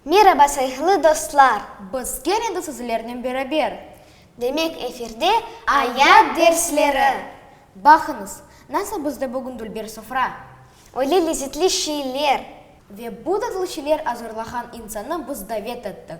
Meraba sayhlı dostlar! Biz gene de sizlernen beraber. Demek efirde ayat dersleri. Baqıñız, nasıl bizde bugün dülber sofra. Öyle lezetli şeyler. Ve bu tatlı şeyler azırlağan insannı biz davet ettik.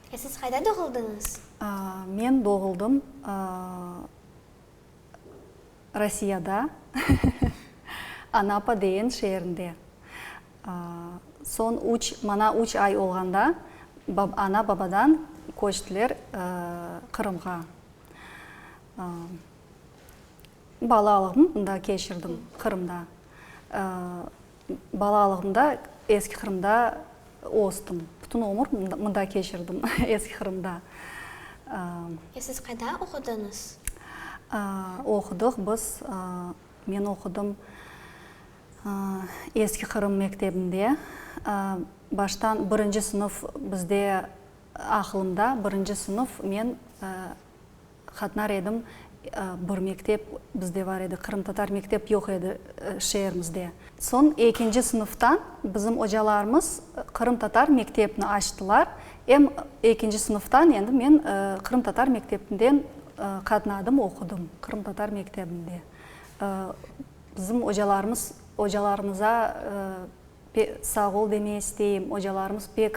E siz qayda doğuldıñız? Men doğuldım Rossiyada, Anapa degen şeerinde. Soñ üç, maña üç ay olğanda ana-babadan köçtiler Qırımğa. Balalığımnı mında keçirdim, Qırımda. Balalığımda Eski Qırımda östüm. Bütün ömür mında keçirdim, Eski Qırımda. E, siz qayda oqudıñız? Oqudıq biz, men oqudım Eski Qırım mektebinde. Baştan birinci sınıf bizde, aqılımda birinci sınıf men Qatnar edim, bir mektep bizde bar edi, qırımtatar mektep yoq edi şeerimizde. Soñ ekinci sınıftan bizim ocalarımız qırımtatar mektepni açtılar, em ekinci sınıftan endi men qırımtatar mekteptinden qatnadım, oqudım, qırımtatar mektebinde. Bizim ocalarımız, ocalarımıza sağ ol deme isteyim, ocalarımız pek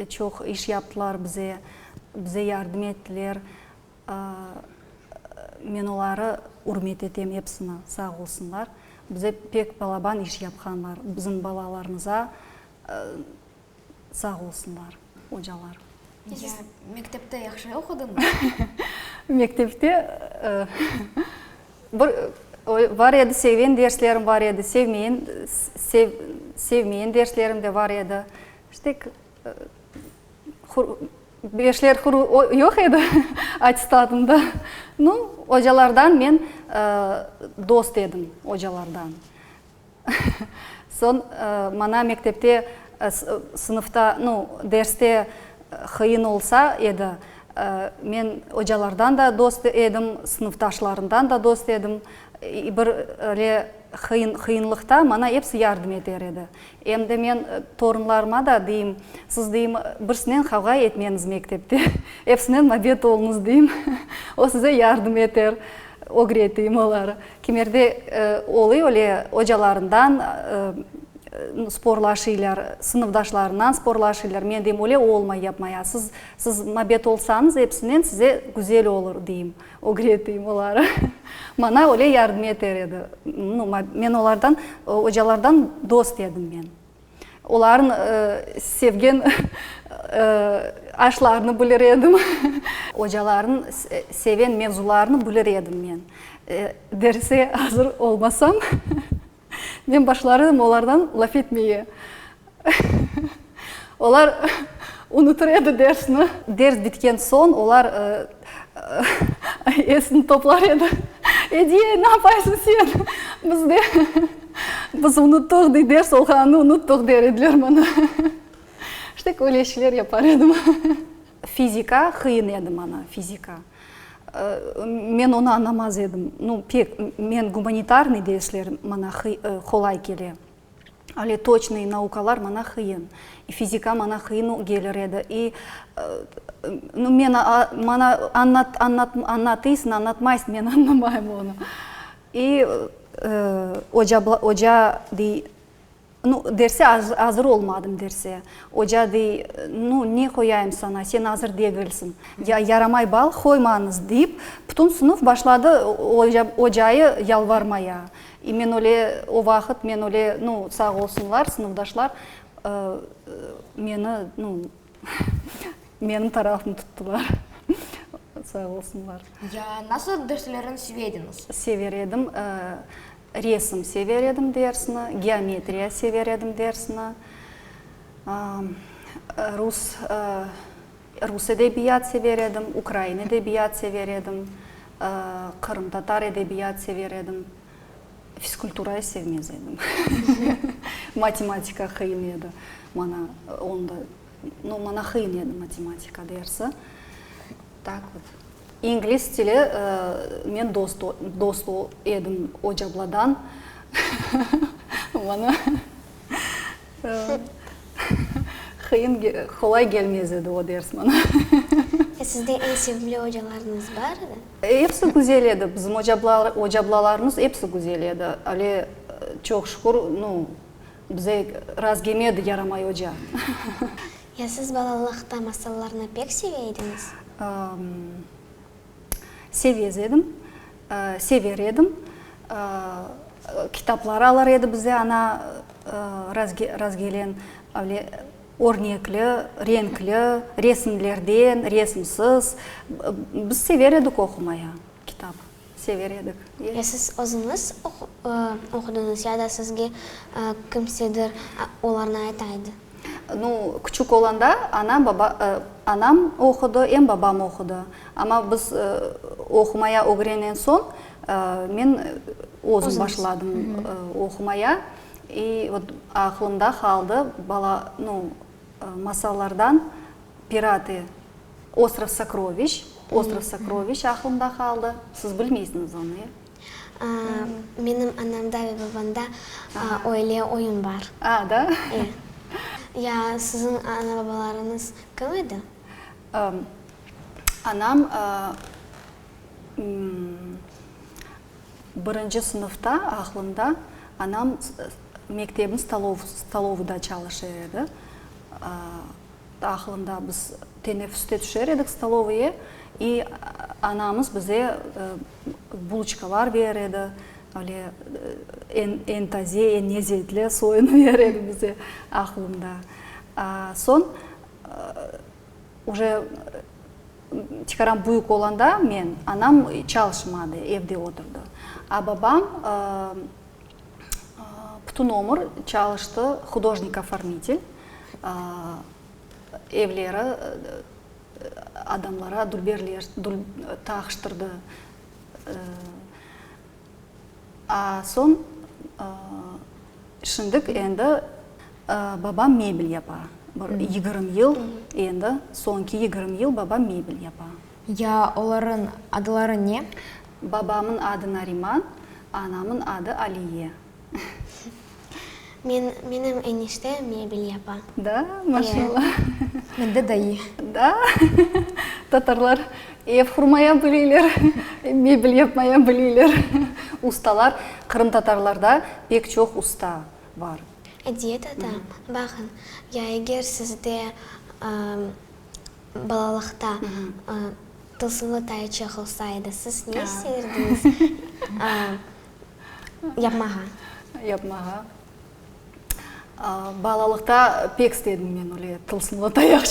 Çoq iş yaptılar bize, bize yardım ettiler. Men oları ürmet etem epsini, sağ olsunlar. Bize pek balaban iş yapqanlar, bizim balalarımıza sağ olsunlar ocalar. Siz mektepte yahşı oqudıñız? Mektepte bir bar edi, sevgen derslerim bar edi, sevmeyen, sevmeyen derslerim de bar edi. Ştek beşler hur yoq edi attestatımda. Nu, ocalardan men dost edim, ocalardan. Soñ maña mektepte sınıfta, nu, derste qıyın olsa edi, men ocalardan da dost edim, sınıftaşlarımdan da dost edim. Bir le qıyınlıqta maña episi yardım eter edi. Endi men torunlarıma da deyim, siz deyim, birsinen qavğa etmeñiz mektepte, epsinen mabet oluñız deyim, o size yardım eter, ögretiyim oları. Kimerde oluy öyle, ocalarından sporlaşıylar, sınıfdaşlarından sporlaşıylar, men deyim, öyle olmay, yapmaya, siz mabet olsañız, epsinen size güzel olur, deyim. Ögreteyim oları. Maña öyle yardım eter edi. No, men olardan, ocalardan dost edim men. Olarnıñ sevgen aşlarını bilir edim. Ocalarnıñ seven mevzularını bilir edim men. Derse azır olmasam. Men başlar edim olardan laf etmege. Olar unutır edi dersni. Ders bitken soñ olar esini toplar edi. Ediye, ne yapaysıñ sen? Biz de, biz unuttıq, dey, ders olğanını unuttıq, der ediler maña. İşte, köyle işler yapar edim. Fizika, qıyın edi maña, fizika. Men onı añamaz edim. Nu, pek, men gumanitarnıy dersler maña qolay kele. Öyle toçnıy naukalar maña qıyın. İ fizika maña qıyın gelir edi. İ, nu, men, maña añlat, añlat, añlatıysıñ, añlatmaysıñ, men añlamayım onı. İ, oca, oca dey. Nu, derse, azır olmadım, derse. Oca dey, nu, ne qoyayım sana, sen azır degilsiñ. Ya, yaramay bal qoymañız, deyip, bütün sınıf başladı ocayı yalvarmaya. E, men öyle, o vaqıt men öyle, nu, sağ olsunlar, sınıfdaşlar meni, nu, menim tarafım tuttılar. Sağ olsunlar. Ya, nasıl derslerin seve ediñiz? Sever edim. Resim sever edim dersni, geometriya sever edim dersni, rus, rus edebiyat sever edim, ukrain edebiyat sever edim, qırımtatar edebiyat sever edim. Fiskulturayı sevmez edim. Matematika qıyın edi maña, onda, no, maña qıyın edi matematika dersi. Taqıv. İngliz tili, men dost dost edim Ocabladan. Bana qıyın qolay kelmez edi o ders bana. Sizde eñ sevimli ocalarıñız bardı? Episi güzel edi, bizim ocablalarımız episi güzel edi. Ale, çoq şükür, nu, Bize razgeme edi Yaramay oca. Ya siz balalıqta masallarnı pek seve ediñiz? Sevez edim, sever edim. Kitaplar alır edi bize ana razgelen, avle örnekli, renkli, resimlerden, resimsiz. Biz sever edik oqumaya kitap. Sever edik. Ya siz özüñiz oqudıñız ya da sizge kimsedir olarnı ayta edi? No, küçük olanda anam, baba, anam oqudı, em babam oqudı. Amma biz oqumaya ögrenen soñ men özüm başladım oqumaya. İ vot aqlımda qaldı bala, no, masallardan Pirate Ostrov Sokroviç, Ostrov Sokroviç aqlımda qaldı. Siz bilmeysiñiz onı, ya? Menim anamda ve babamda öyle oyun bar. A, da? E. Ya siziñ ana-babalarıñız kim edi? Anam birinci sınıfta, aqlımda, anam mektebin stolovıda çalışır edi. Aqlında biz teneffüste tüşer edik stolovoye, i anamız bize bulıçkalar berer edi, öyle eñ taze, eñ nezzetli soyını berer edi bize, aqlımda. Soñ, uje tikaram büyük olanda men, anam çalışmadı, evde oturdı. A babam, Bütün ömür çalıştı hudojnik-ofornitel. Evleri adamlara dülberler taqıştırdı. Soñ, şimdik endi babam mebel yapa. Bir yigirmi yıl endi, soñki yigirmi yıl babam mebel yapa. Ya olarıñ adıları ne? Babamıñ adı Nariman, anamıñ adı Aliye. Men, menim enişte mebel yapa. Da, maşallah. Mende dayı. Da, tatarlar ev qurmaya bileyler, mebel yapmaya bileyler. Ustalar, qırımtatarlarda pek çoq usta bar. Ediyet ata, baqıñ, ya eger sizde, Balalıqta Tılsımlı Tayı Çehovsa edi, siz ne isteyrdiniz yapmağa? Yapmağa? Balalıqta pek istedim men öyle Tılsımlı Tayı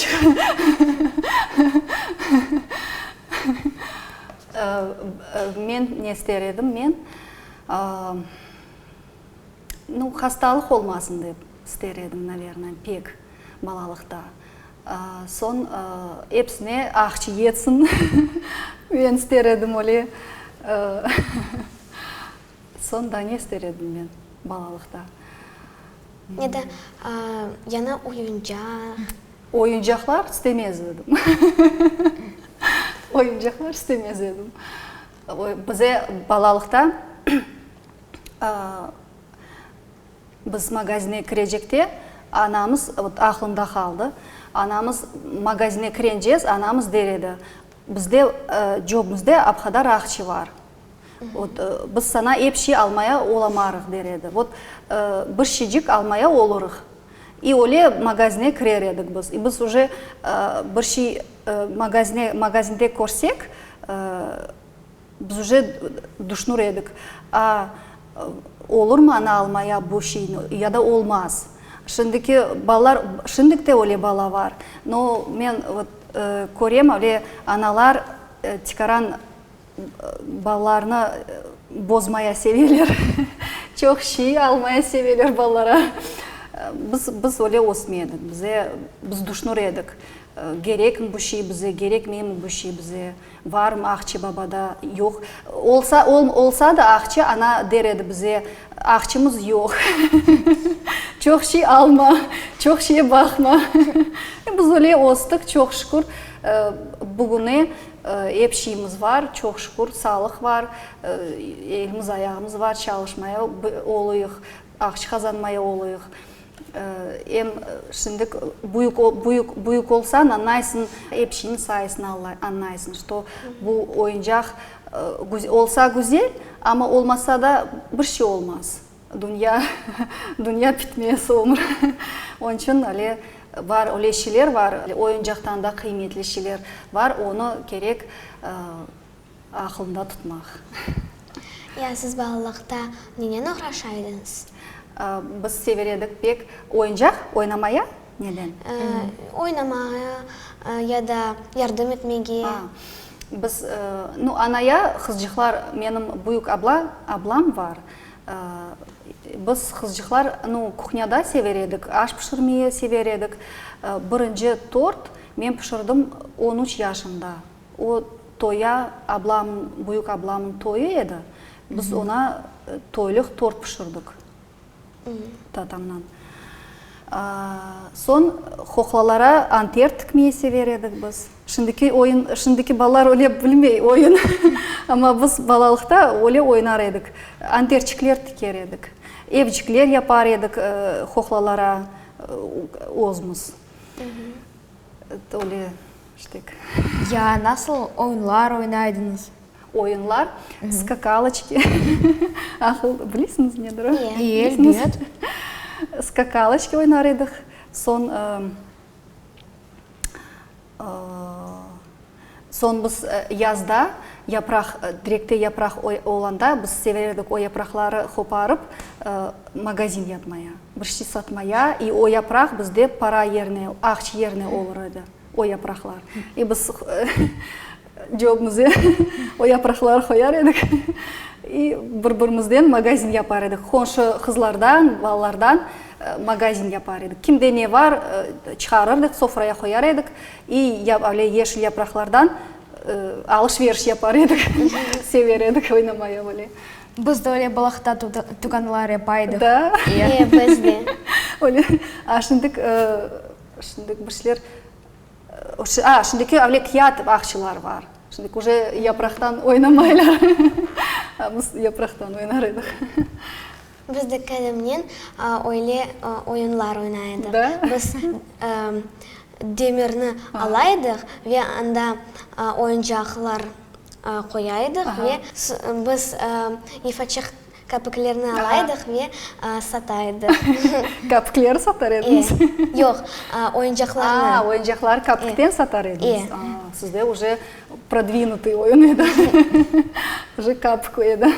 Men ne ister edim, men hastalıq olmasın dep ister edim, naverna, pek. Balalıqta. Soñ epsine ahçı yetsin, men ister edim öyle. Soñ da ne ister edim men balalıqta? Ya da yañı oyuncaq. Oyuncaqlar istemez edim. Oyuncaqlar istemez edim. Bize balalıqta Biz magazine kirecekte, anamız, vot aqlımda qaldı, anamız, magazine kirencez, anamız der edi, bizde, cöbümizde ap qadar aqçı bar, vot, biz saña ep şey almaya olamarıq, der edi. Vot, bir şeycik almaya olurıq. İ öyle magazine kirer edik biz. İ biz uje bir şey magazine, magazinde körsek, Biz üce duşnür edik. A olurmı ana almaya bu şeyni ya da olmaz. Şimdiki balalar, şimdik de öyle bala bar. No men vot körem, öyle analar tikaran balalarnı bozmaya seveler. Çoq şey almaya seveler balalara. Biz, biz öyle ösme edik. Bize, biz duşnür edik, gerekmi bu şey bize, gerekmeymi bu şey bize. Varmı Aqçı babada? Yoq. Olsa, olsa da Aqçı ana der edi bize, Aqçımız yoq. Çoq şey alma, çoq şeye baqma. Biz öyle östük, çoq şükür, bugüne ep şeyimiz var, çoq şükür, sağlıq var, elimiz ayağımız var, çalışmaya oluyıq, aqçı qazanmaya oluyıq. Em şimdik büyük büyük büyük olsañ añlaysıñ, epişiñ sayesinde añlaysıñ, şto bu oyuncaq olsa güzel, amma olmasa da bir şey olmaz, dünya dünya bitmez, ömür. Onıñ içün ale bar öyle şeyler bar, oyuncaqtan da qıymetli şeyler bar, onı kerek Aqılında tutmaq. Ya siz balalıqta nenen oğraşa ediñiz? Biz sever edik pek oyuncaq oynamaya. Neden? Oynamaya ya da yardım etmege. Biz, no, anaya qızcıqlar, menim büyük abla, ablam var. Biz qızcıqlar, no, kuhnyada sever edik, aş pişirmeye sever edik. Birinci tort men pişirdim on üç yaşımda. O toya, ablam, büyük ablamnıñ toyı edi, biz oña toylıq tort pişirdik tatamnan. Soñ qoqlalara anter tikmeyi sever edik biz. Şimdiki oyun, şimdiki balalar öyle bilmey oyun, amma biz balalıqta öyle oynar edik, anterçikler tiker edik, evcikler yapar edik qoqlalara özümüz. Öyle iştik. Ya, nasıl oyunlar oynaydınız? Oyunlar, skakaloçki, ahıl, bilesiñiz nedir o? İyi, elbet. Skakaloçki oynar edik, soñ, Soñ biz yazda yapraq, direkte yapraq olanda biz severdik o yapraqları qoparıp magazin yapmaya, bir şey satmaya. İ o yapraq bizde para yerine, aqç yerine olur edi, o yapraqlar. İ biz cöbmüze o yapraqları qoyar edik, i bir birimizden magazin yapar edik. Qonşu qızlardan, balalardan magazin yapar edik. Kimde ne bar, çıqarırdıq, sofraya qoyar edik. İ, ya öyle yeşil yapraqlardan alış-veriş yapar edik, sever edik oynamaya böyle. Biz de öyle balahta tuğanlar yapa edik. Da? İyi, biz de. Öyle, a, şimdik, şimdik bir şeyler, a, şimdiki öyle kâğıt bağçalar bar. Şimdik uje yapraqtan oynamaylar. A, biz yapraqtan oynar edik. Biz de Kerimnen öyle oyunlar oyna edik. Da? Biz demirni ala edik ve anda oyuncaqlar qoya edik ve biz ifaçıq kapiklerni ala edik ve sata edik. Kapikleri satar ediñiz? Yoq, oyuncaqlarnı. A, oyuncaqlar kapikten satar ediñiz. A, sizde уже prodvinutı oyun edi. Уже kapik edi.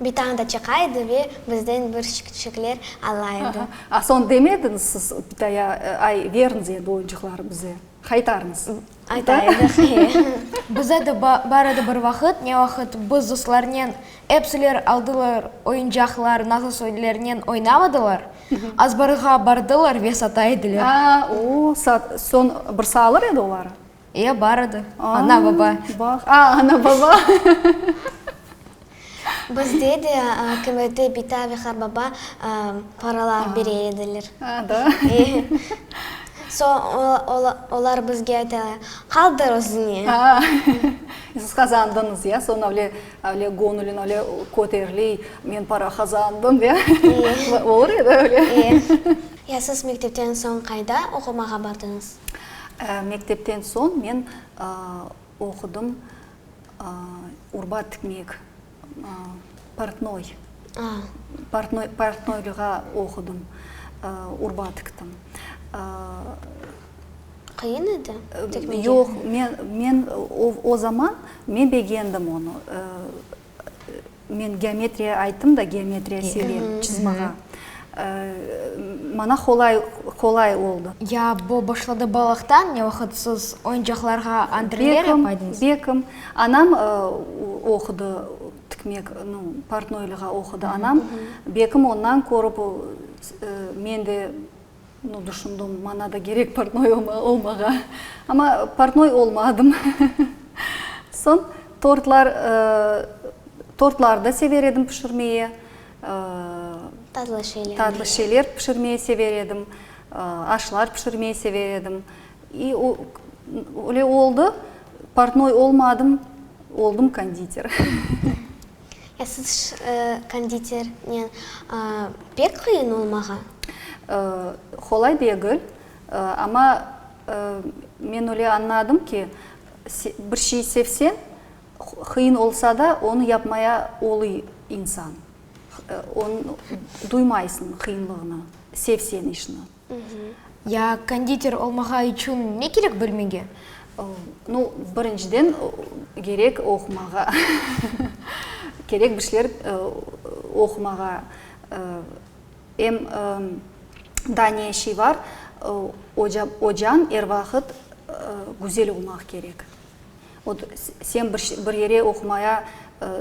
Bir tane da çıqa edi ve bizden bir şıkçıkler ala edi. A soñ demediñiz siz Pitaya, ay, beriñiz endi oyuncıqlarnı bize, qaytarıñız? Ayta edik, e. Bize de bar edi bir vaqıt, ne vaqıt biz ruslarnen epsiler aldılar oyuncaqlar, nasıl sözlernen oynamadılar, azbarğa bardılar ve sata ediler. A, o, soñ bir saalır edi oları? E, bar edi, ana-baba. Bax, a, ana-baba. Bizde de kümete bita ve qarbaba paralar bere ediler. A, da? E, soñ olar bizge aytalar, qaldır özüñe. A, siz qazandıñız, ya, soñ öyle, öyle göñüliñ öyle köteriley, men para qazandım, ya. E. Olur edi öyle. E, ya siz mektepten soñ qayda oqumağa bardıñız? Mektepten soñ men oqudım urba tikmek, portnoy, portnoy, portnoylığa oqudım, urba tiktim. Qıyın edi tikmege? Yoq, men, men o, o zaman men begendim onı. Men geometriya ayttım da, geometriya sevem çızmağa. Maña qolay, qolay oldı. Ya bu başladı balaqtan, ne vaqıt siz oyuncaqlarğa antrenör yapaydınız? Bekim, bekim. Anam oqudı, tikmek, no, portnoylığa oqudı anam. Bekim ondan körip, men de. No, düşündim, maña da gerek portnoy olmağa. Amma portnoy olmadım. Soñ tortlar, tortlar da sever edim pişirmege. Tatlı şeyler. Tatlı şeyler pişirmege sever edim. Aşlar pişirmege sever edim. İ o, öyle oldı, portnoy olmadım, oldum konditer. Ya siz konditernen pek qıyın olmağa? Qolay degil, amma men öyle añladım ki, bir şey sevseñ, qıyın olsa da, onı yapmaya oluy insan. Duymay sıñ qıyınlığını, sevseñ işni. Ya konditer olmağa içün ne kerek bilmege? No, birinciden, kerek oqumağa. Kerek bir şeyler oqumağa. Em daa ne şey bar, ocañ er vaqıt güzel olmaq kerek. Ot, sen bir yere oqumaya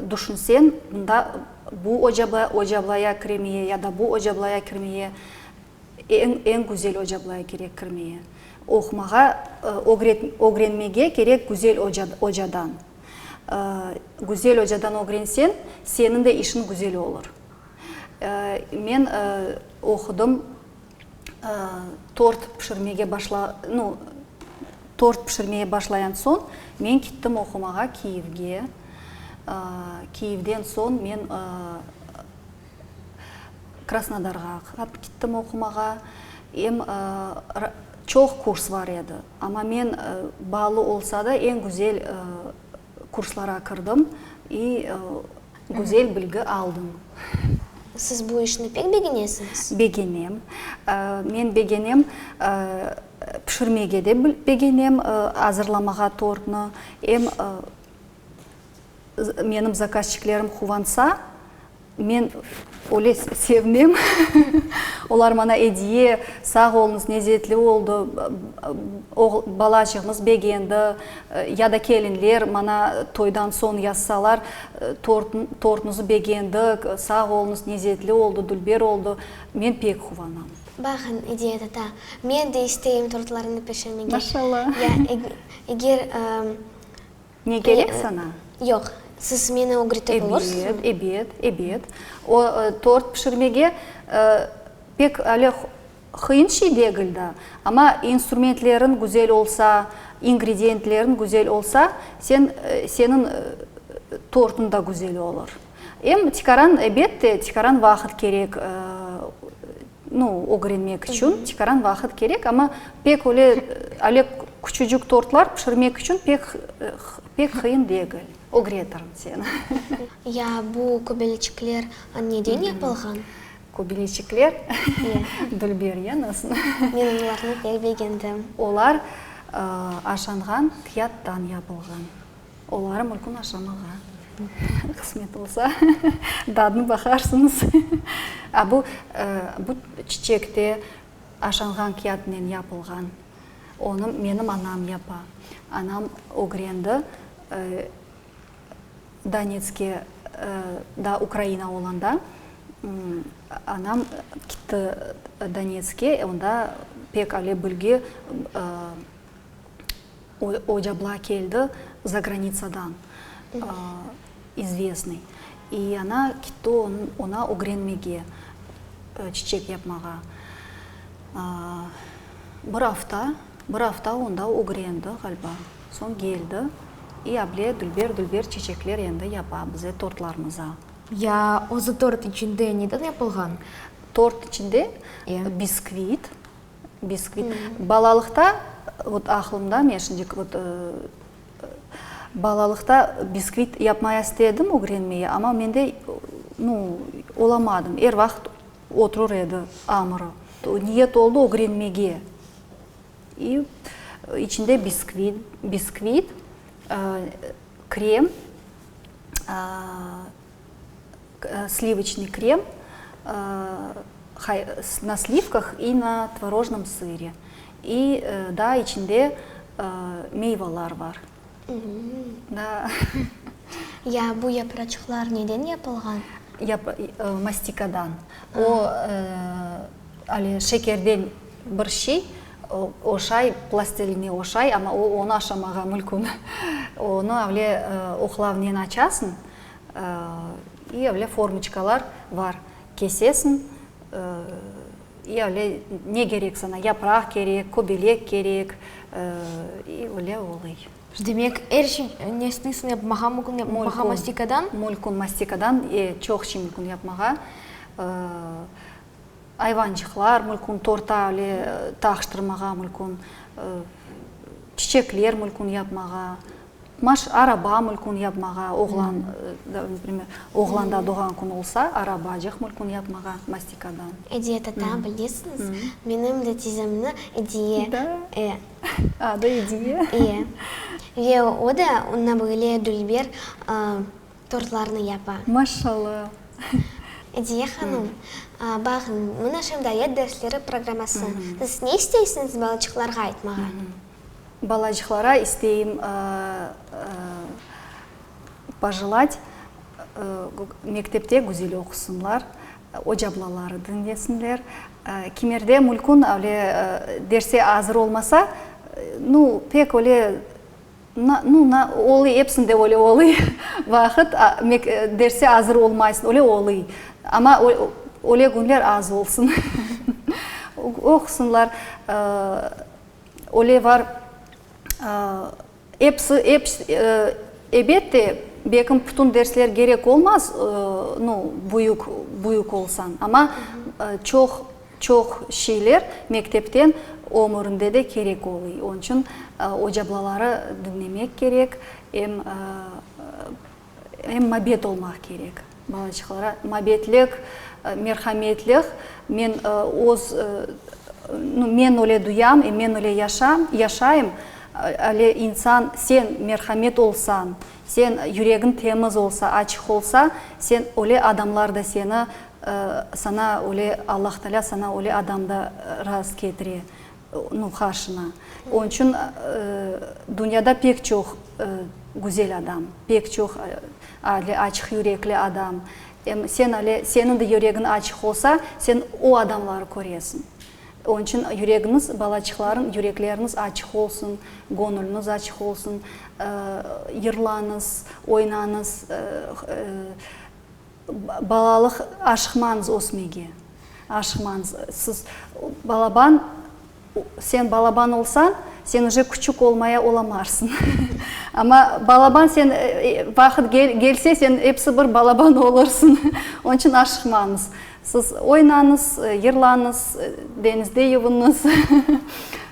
düşünsen, onda bu ocablaya kirmeye ya da bu ocablaya kirmeye Eñ güzel ocablaya kerek kirmeye. Oqumağa, ögrenmege kerek güzel ocadan. Güzel ocadan ögrenseñ, seniñ de işiñ güzel olur. Men oqudım, tort pişirmege tort pişirmeye başlayan soñ, men kittim oqumağa Kiyevge. Kiyevden soñ men. Krasnodarğa aqırıp kittim oqumağa. Em çoq kurs bar edi, amma men baalı olsa da eñ güzel kurslara kirdim i güzel bilgi aldım. Siz bu işni pek begenesiñiz? Begenem. Men begenem, pişirmege de begenem, azırlamağa tortnı. Em menim zakazçiklerim quvansa, Men öyle sevmem. Olar maña ediye, sağ oluñız, nezetli oldı, balacığımız begendi, ya da kelinler maña toydan soñ yazsalar, tortnıñız begendik, sağ oluñız, nezetli oldı, dülber oldı, men pek quvanam. Baqıñ, ediye tata, men de isteyim tortlarıñnı pişirmege. Maşallah. Ya eger Ne kerek saña? Yoq, siz meni ögretip olursunuz? Ebet, ebet, ebet. O tort pişirmege pek öyle qıyın şey degil da. Amma instrumentlerin güzel olsa, ingrediyentlerin güzel olsa, sen, seniñ tortuñ da güzel olur. Em tikaran, ebet de, tikaran vaqıt kerek. nı ögrenmek içün tikaran vaqıt kerek, amma pek öyle, ale küçücük tortlar pişirmek içün pek pek qıyın degil. Ögretirn seni. Ya bu köbeleçikler neden yapılğan? Köbeleçikler? Dülber yanasın. Men olarnı pek begendim. Olar aşanğan kiyattan yapılğan. Olar mülkün aşamağa qısmet olsa, dadını baqarsıñız. A bu, bu çiçek de aşanğan kâğıtnen yapılğan. Onı menim anam yapa. Anam ögrendi, Donetske, daa Ukraina olanda, anam kitti Donetske, onda pek öyle bilgi Ocabla keldi zagranitsadan, izvestnıy, i ana kitti ona ögrenmege, çiçek yapmağa. Bir afta, bir afta onda ögrendi, ğaliba, soñ keldi, i able dülber-dülber çiçekler endi yapa bize tortlarımıza. Ya özü tort içinde neden yapılğan? Tort içinde biskvit, Biskvit. Balalıqta, vot aqlımda, men şimdik vot balalıqta biskvit yapmaya istedim, ögrenmeye, amma mende, nu, olamadım, er vaqıt oturur edi amırı. Niyet oldı ögrenmege. İ, içinde biskvit, biskvit, krem, aa, Slivoçnıy krem na slivkah i na tvorojnım sıre i daa içinde meyvalar bar. Ya bu yapraçıqlar neden yapılğan? Mastikadan. O ale şekerden bir şey oşay, plastiline oşay, amma onı aşamağa mülkün. Onı avle oqlavnen açasıñ İ avle formiçkalar bar, kesesiñ, İ avle ne kerek saña, yapraq kerek, köbelek kerek, İ avle olay. Demek, er şey ne isteysiñ yapmağa mümkün, yapmağa mastikadan? Mümkün, mastikadan e, çoq şey mümkün yapmağa. Ayvancıqlar mümkün, torta avle taqıştırmağa mümkün, çiçekler mümkün yapmağa. Maaş, araba, mülkün yapmağa, oğlan, primer, oğlanda doğğan kün olsa, arabacıq, mülkün yapmağa, mastikadan. Ediye tata, bilesiñiz, menim de tizemni Ediye, e. Adı Ediye. İye. Ve o da onına böyle dülber tortlarnı yapa. Maşallah. Ediye hanım, bağıñ, mına şimdi ayet dersleri programması. Siz ne isteysiñiz balaçıqlarğa aytmağa? Balacıqlara isteyim pojılat, mektepte güzel oqusınlar, ocablaları diñlesinler. Kimerde mülkün öyle derse azır olmasa, nu, pek öyle, na, nu, na, olıy, epsinde öyle olıy, vaqıt, mek, derse azır olmaysın, öyle olıy. Amma öy, öyle günler az olsun. Oqusınlar. Öyle var, episi, ebet de, belkim pütün dersler gerek olmaz, nu, büyük, büyük olsañ, amma çoq, çoq şeyler mektepten ömürinde de kerek oluy. Onıñ içün ocablaları diñlemek kerek, em Em mabet olmaq kerek balaçıqlara, mabetlik, merhametlik. Men öz, men öyle duyam, em men öyle yaşam, yaşayım. Ale insan, sen merhamet olsañ, sen yüregiñ temiz olsa, açıq olsa, sen öyle adamlar da seni, sana öyle, Allahtaalâ sana öyle adam da rast ketire. Nı haşına. Onıñ içün dünyada pek çoq güzel adam, pek çoq ale açıq yürekli adam. Em sen ale, seniñ de yüregiñ açıq olsa, sen o adamları köresiñ. Onıñ içün yüregiñiz, balaçıqlarıñ yürekleriñiz açıq olsun, göñüliniz açıq olsun, yırlañız, oynañız. Balalıq aşıqmañız ösmege, aşıqmañız. Siz balaban, sen balaban olsañ, sen üje küçük olmaya olamarsıñ. Amma balaban sen, vaqıt gelse, sen episi bir balaban olursıñ. Onıñ içün aşıqmañız. Siz oynañız, yırlañız, deñizde yuvunız.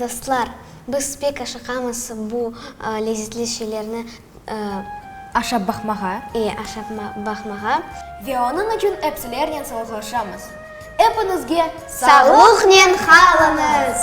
Dostlar, biz pek aşıqamız bu lezetli şeylerni, ıı. Aşap baqmağa. E, aşap baqmağa. Ve onıñ içün epsilernen salaqlaşamız. Epiñizge sağlıqnen qalıñız!